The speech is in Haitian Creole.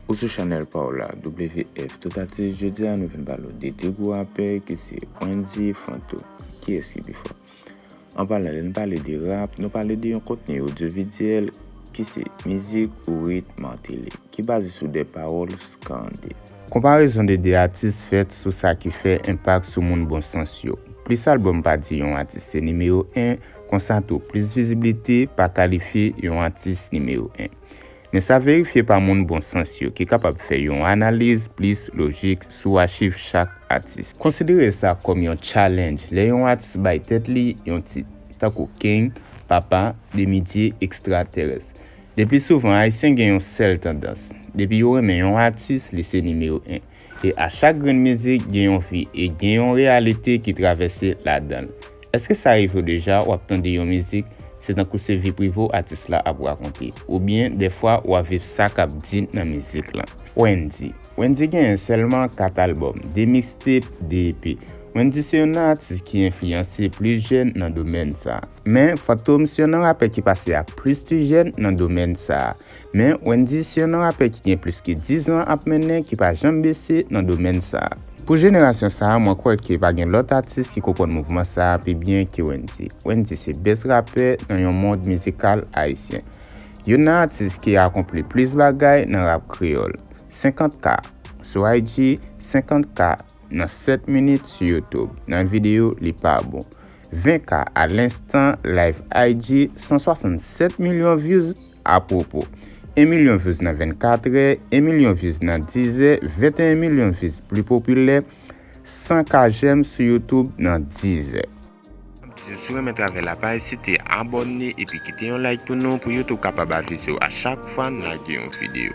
Ou sou chanèl pa w la WF tout atis jodi a nou vin pale w de 2 gwo rapè ki se Wendyy e Flanto kiyès ki pi fò? An palan lè n pale de rap nou pale de yon kontni odyovidyèl ki se mizik ou rit Martelly ki baze sou 2 pawòl skande. Konparezon de 2 atis fèt sou sa ki fè enpak sou moun bon sans yo. Plis albòm pa di yon atis se nimewo 1 konsa tou plis viziblite pa kalifye yon atis nimewo 1. Men sa verifye pa moun bon sans yo ki kapab fè yon analiz plis lojik sou achiv chak atis. Konsidere sa kòm yon challenge lè yon atis bay tèt li yon tit, tankou King, Papa, Demidye, Ekstratèrès. Leplisouvan Ayisyen gen yon sèl tandans, depi yo renmen yon atis li se nimewo 1. E a chak grenn mizik gen yon vi e gen yon reyalite ki travèse ladanl. Eske sa rive w deja wap tande yon mizik se tankou se vi prive w atis la ap rakonte oubyen dèfwa wap viv sa kap di nan mizik lan? Wendy Wendy genyen sèlman 4 albòm, 2 mixtape, 2 EP. Wendy se youn nan atis ki enfliyanse plis jèn nan domèn sa. Men, Fantom se youn nan rapè ki pase ak plis ti jèn nan domèn sa. Men, Wendyy se yonn nan rapè ki gen plis ke 10 zan ap mennen ki pa janm bese nan domèn sa a. Pou jenerasyon sa a, mwen kwè ke pa gen lòt atis ki konprann mouvman sa a pi byen ke Wendyy. Wendyy se best rapè nan yon mond mizikal ayisyen. Yonn nan atis ki akonpli plis bagay nan rap kreyòl. 50 K sou IG, 50 K nan 7 minit sou YouTube, nan videyo li pa bon. 20 K a lenstan, live IG, 167 milyon vyouz. Apwopo, 1 milyon vyouz nan 24 è, 1 milyon vyouz nan 10 è, 21 milyon vyouz pli popilè, 100 ka jèm sou YouTube nan 10 è. Si w renmen travay la pa ezite abòne epi kite yon like pou nou pou YouTube kapab avize w a chak fwa n lage yon videyo.